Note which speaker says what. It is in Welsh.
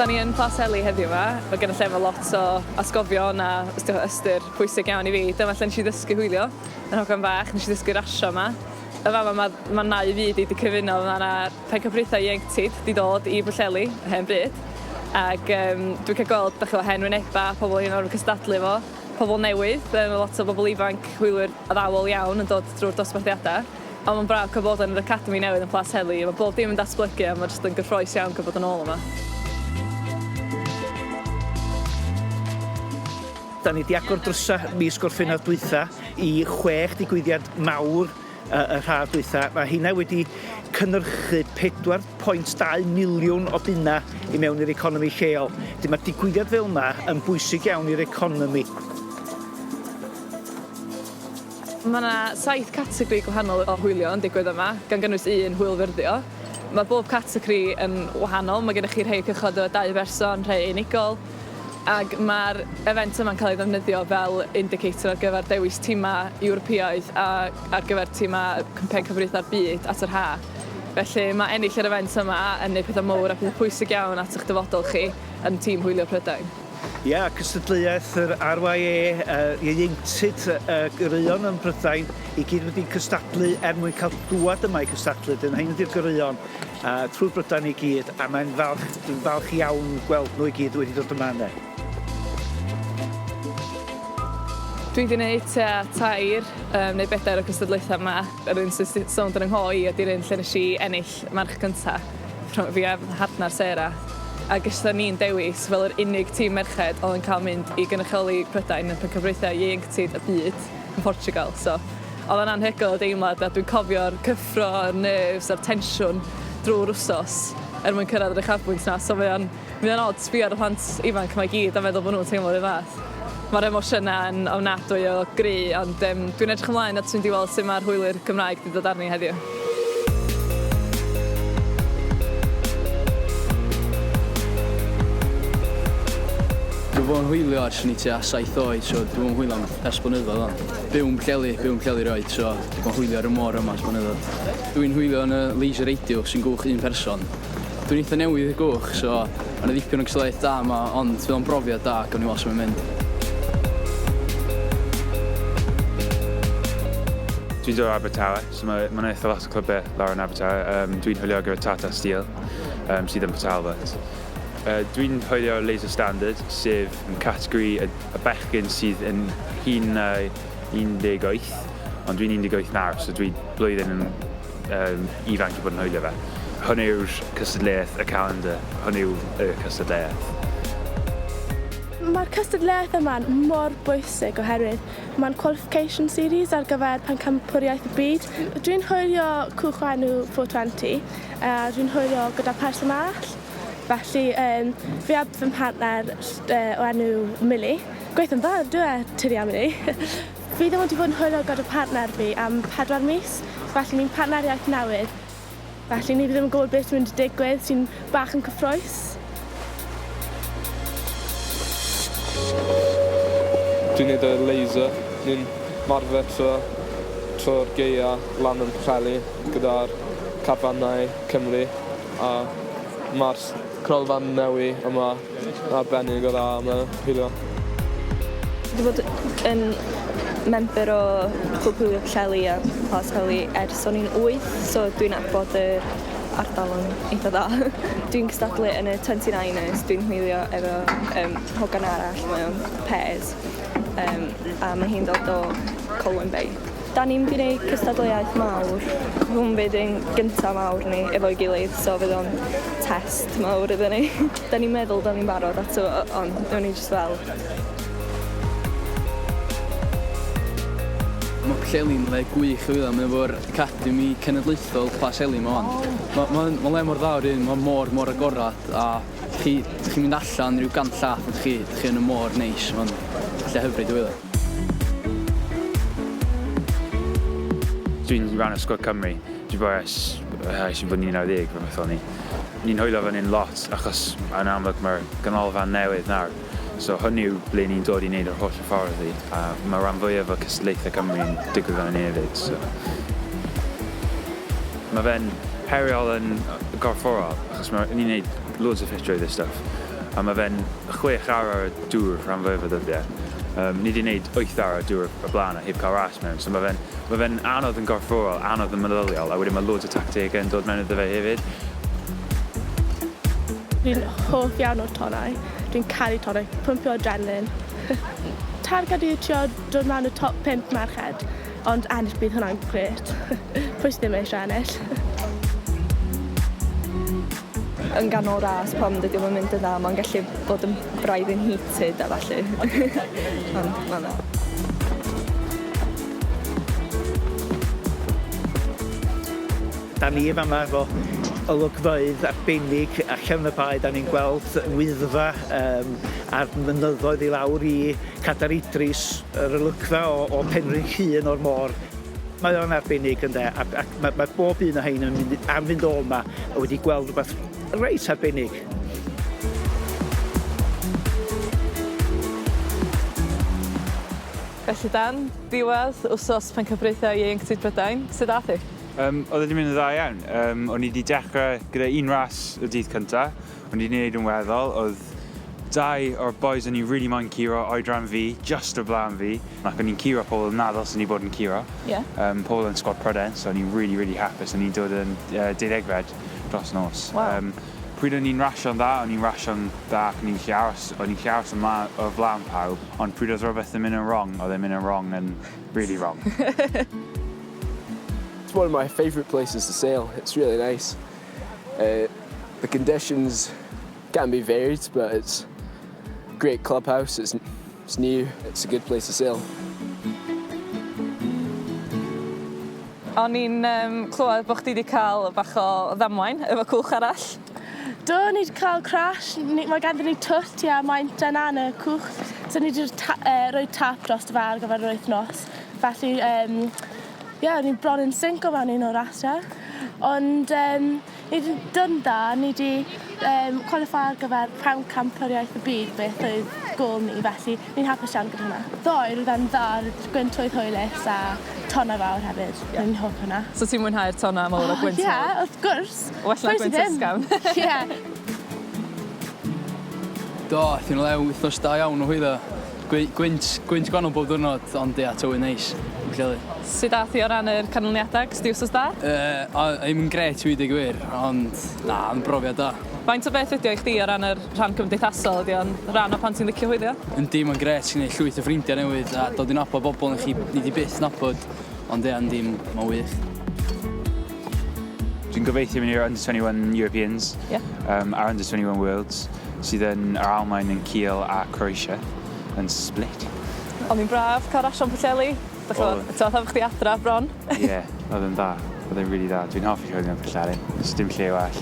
Speaker 1: Da ni yn Plas Eli heddiw yma. Mae gen y lle fel lot o asgofion a ystyr pwysig iawn i fi. Dyma lle nes i ddysgu hwylio. Yn hogan fach, nes i ddysgu rasio yma. Y fama mae, mae nau fyd i wedi cyfuno. Mae yna rhai cyfraethau ieuenctid di dod i Bwlleli, hen bryd. Ac um, dwi'n cael gweld, da chi o hen wyneba, pobl hyn o'r cystadlu fo. pobl newydd, mae lot o bobl ifanc, hwylwyr addawol iawn yn dod drwy'r dosbarthiadau, ond mae'n braf cael bod yn yr academi newydd yn Plas Heli, mae bob dim yn datblygu a mae jyst yn gyffroes iawn cael bod yn ôl yma.
Speaker 2: Da ni 'di agor drysau mis Gorffennaf dwytha i chwech digwyddiad mawr y haf dwytha, mae heina wedi cynnyrchu 4.2 miliwn o bunna i mewn i'r economi lleol. Dy mae digwyddiad fel yma yn bwysig iawn i'r economi.
Speaker 1: Mae yna saith categori gwahanol o hwylio yn digwydd yma, gan gynnwys un hwyl fyrddio. Mae bob categori yn wahanol, mae gennych chi rhai cychod o dau berson, rhai unigol, ac mae'r event yma'n cael ei ddefnyddio fel indicator ar gyfer dewis timau Ewropeaidd a ar gyfer timau Cwmpen Cyfrifydda'r Byd at yr haf. Felly mae ennill yr event yma yn neud pethau mowr a pethau pwysig iawn at eich dyfodol chi yn Tîm Hwylio Prydain. Ia,
Speaker 2: cystadleuaeth yr RYA yy ieuenctid y goreuon yn Prydain i gyd wedi cystadlu er mwyn cael dŵad yma i gystadlu, 'dyn rhein ydi'r goreuon. A thrwy'r Brydain i gyd, a mae'n falch, dwi'n falch iawn gweld nhw i gyd wedi dod yma ynde.
Speaker 1: Dwi di neud tua tair yym neu bedair o gystadlaetha yma. Yr un sy sy sownd yn yng ngho i ydi'r un lle nesh i ennill march cynta rhwng fi a fy mhartnar Sarah a geshon ni'n dewis fel yr unig tîm merched o'dd yn ca'l mynd i gynrychioli Prydain yn Pencampwriaethau Ieuenctid y Byd. yn Portugal so odd o'n anhygoel y deimlad a dwi'n cofio'r cyffro a'r nerves a'r tensiwn drwy'r wsos er mwyn cyrraedd yr uchafbwynt 'na so mae o'n mae o'n od sbio ar y plant ifanc 'ma i gyd a meddwl bo' nhw'n teimlo 'r un fath. Ma'r emosiyna yn ofnadwy o gry ond yym dwi'n edrych ymlaen at fynd i weld sut ma'r hwyli'r Gymraeg 'di dod arni heddiw.
Speaker 3: Dw fo'n hwylio ers o'n i tua saith oed so dw fo'n hwylo am ers blynyddoedd wan. Byw'n Pwllheli, byw yn Pwllheli erioed, so dwi bod yn hwylio ar y môr yma ers blynyddoedd. Dwi'n hwylio yn y laser radio sy'n gwch un person. Dwi'n eitha newydd i'r gwch, so mae 'na ddipyn o gystadleuaeth da yma, ond fydd o'n brofiad da, gawn ni weld sut mae'n mynd.
Speaker 4: Dwi'n dod o Abertawe, so mae 'na eitha lot o clybau lawr yn Abertawe. Um, dwi'n hwylio gyda Tata Steel, um, sydd yn Port Talbot. Uh, dwi'n hwylio Laser Standard, sef yn categori y y bechgyn sydd yn hŷn na 18, ond dwi'n 18 nawr, so dwi blwyddyn yn um, ifanc i bod yn hwylio fe. Hwn yw'r cystadleuaeth, y calendar. Hwn yw y cystadleuaeth.
Speaker 5: Mae'r cystadleuaeth yma'n mor bwysig oherwydd mae'n qualification series ar gyfer pencampwriaeth y byd. Dwi'n hwylio Cwch Enw 420 a dwi'n hwylio gyda Person Arall. Felly yym fi a fy mhartner yy o enw Milly, gweithio'n dda on'd yw e? Ti 'di anfon i. Fi ddim wedi bod yn hwyl o gyda partner fi am pedwar mis felly ni'n partneriaeth newydd felly ni ddim yn gwbod beth sy'n mynd i digwydd sy'n bach yn cyffrous.
Speaker 6: Dwi'n neud y laser. Ni'n marfer trw trw'r gaea lan yn Pwllheli gyda'r carfannau Cymru. A ma'r cronfa newi yma yn arbennig o dda am y pili 'ma.
Speaker 7: Dwi bod yn member o Clwb Hwylio Pwllheli a Plas Heli ers o'n i'n wyth so dwi'n nabod yr ardal yn eitha dda. Dwi'n cystadlu yn y twenty niners dwi'n hwylio efo yym hogan arall mae o'n pêrs yym a mae hi'n dod o Colwyn Bay. Da ni'n mynd i neud cystadleuaeth mawr, hwn fydd ein gynta mawr ni efo'i gilydd so fydd o'n test mawr iddyn ni. Da ni'n meddwl da ni'n barod ato fo ond newn ni jyst weld.
Speaker 3: Mae Plas Eli'n le gwych i wylio, mae o efo'r Academi Cenedlaethol Plas Eli 'ma 'wan. Ma' ma' o'n ma'n le mor dda o'r un ma'r môr mor agored a chi 'dych chi'n mynd allan ryw gant llath a 'dych chi 'dych chi yn y môr neis ma'n lle hyfryd i wylio.
Speaker 4: Dwi'n ran o sgwad Cymru. Dwi bo ers ers i fod yn 11 rhywbeth o'n i. Ni'n hwylio fan hyn lot achos yn amlwg mae'r ganolfan newydd nawr so hwn yw ble ni'n dod i wneud yr holl hyfforddi a mae ran fwyaf o cystadlaethau Cymru yn digwydd fan hyn hefyd so mae fe'n heriol yn gorfforol achos mae ni'n wneud loads o ffitrwydd a stwff. a mae fe'n chwech awr ar y dŵr rhan fwyaf o ddyddiau. Yym, ni 'di neud wyth awr ar y dŵr o'r blaen a heb cael ras mewn, so mae fe'n, mae fe'n anodd yn gorfforol, anodd yn meddyliol, a wedyn mae loads o tactegau yn dod mewn iddo fe hefyd.
Speaker 5: Fi'n hoff iawn o'r tonnau. Dwi'n caru tonnau, pwmpio adrenaline. Targed yw trio dod mewn y top pump merched, ond ennill bydd hwnna'n grêt. Pwy sy ddim eisiau ennill?
Speaker 7: yn ganol ras pam dydi o'm yn mynd yn dda ma'n gallu bod yn braidd yn heated a ballu. Ond ma' fe.
Speaker 2: Da ni fama efo olygfeydd arbennig allan y bae da ni'n gweld Wyddfa yym a'r mynyddoedd i lawr i Cadair Idris yr olygfa o o Penrhyn Llŷn o'r môr. Mae o'n arbennig ynde a, a mae, mae bob un o hein yn mynd, am fynd o yma a wedi gweld rhywbeth reit arbennig.
Speaker 1: Felly Dan, diwedd wsos Pencampwriaethau Ieuenctid Prydain, sut ath hi? Um, oedd wedi mynd yn
Speaker 4: dda iawn. Um, o'n i wedi dechrau gyda un ras y dydd cyntaf, O'n i 'di neud yn weddol, oedd dau o'r bois o'n i rili moyn curo oedran fi, jyst o flan fi, ac o'n i'n curo pobl nad ddylsen i bod yn curo. Ie. Yym pobl yn sgwad Prydain, so o'n i'n rili rili hapus, o'n i'n dod yn yy deuddegfed dros nos. Waw. Yym pryd o'n i'n rasio'n dda, o'n i'n rasio'n dda ac o'n i'n gallu aros, o'n i'n gallu aros o mla- o flan pawb, ond pryd oedd rhywbeth yn mynd yn rong, oedd e'n mynd yn rong yn rili rong.
Speaker 8: It's one of my favourite places to sail, it's really nice. Uh, the conditions can be varied, but it's a great clubhouse. It's, it's new. It's a good place to sail.
Speaker 1: O'n i'n um, clywed bod chdi wedi cael bach o ddamwain efo cwch arall. Do, ni
Speaker 5: wedi cael crash. Mae ganddyn ni twt, ia, mae'n dyna yn y cwch. So ni wedi ta, uh, rhoi tap dros y far gyfer yr wythnos. Felly, um, Ie, o'n i'n bron yn sinco mewn un o'r ASDA. Ond um, ni wedi dod yn dda, ni wedi um, qualify ar gyfer pam campwriaeth y byd beth oedd gol ni, felly ni'n hapus iawn gyda hwnna. Ddoe, roedd e'n dda, roedd gwyntwydd hwylus a tonna fawr hefyd. Yeah. Ni'n hoff hwnna. So ti'n mwynhau'r tonna
Speaker 1: mawr oh, o gwyntwydd? Ie, yeah, wrth gwrs.
Speaker 5: Well na gwynt ysgafn.
Speaker 1: Ie.
Speaker 3: Do, aeth yn lew wythnos da iawn o hwydda. Gwy- gwynt, gwynt gwanol bob diwrnod, ond ia, tywydd neis, yn Pwllheli. Sut
Speaker 1: ath hi o ran yr canlyniadau? Ges di wsos da? Yy, o, ddim yn
Speaker 3: grêt i weud y gwir, ond na, oedd yn brofiad da. Faint o beth ydi o i chdi
Speaker 1: o ran yr rhan cymdeithasol, ydi o'n rhan o pan ti'n licio hwylio? Yndi, mae'n grêt, ti'n gwneud
Speaker 3: llwyth o ffrindiau newydd a dod i nabod bobl ni chi- ni di byth nabod, ond ia, yndi, mae'n wych.
Speaker 4: Dwi'n gobeithio mynd i'r Under 21 Europeans yeah. um, a'r Under 21 Worlds sydd yn yr Almain yn Kiel a Croatia yn Split. Ond mi'n braf
Speaker 1: cael rasio yn Pwllheli. Dych chi'n meddwl, ti'n meddwl chdi adra bron? Ie,
Speaker 4: yeah, oedd yn dda. Oedd yn really dda. Dwi'n hoffi rhywbeth yn Pwllheli. Does dim lle well.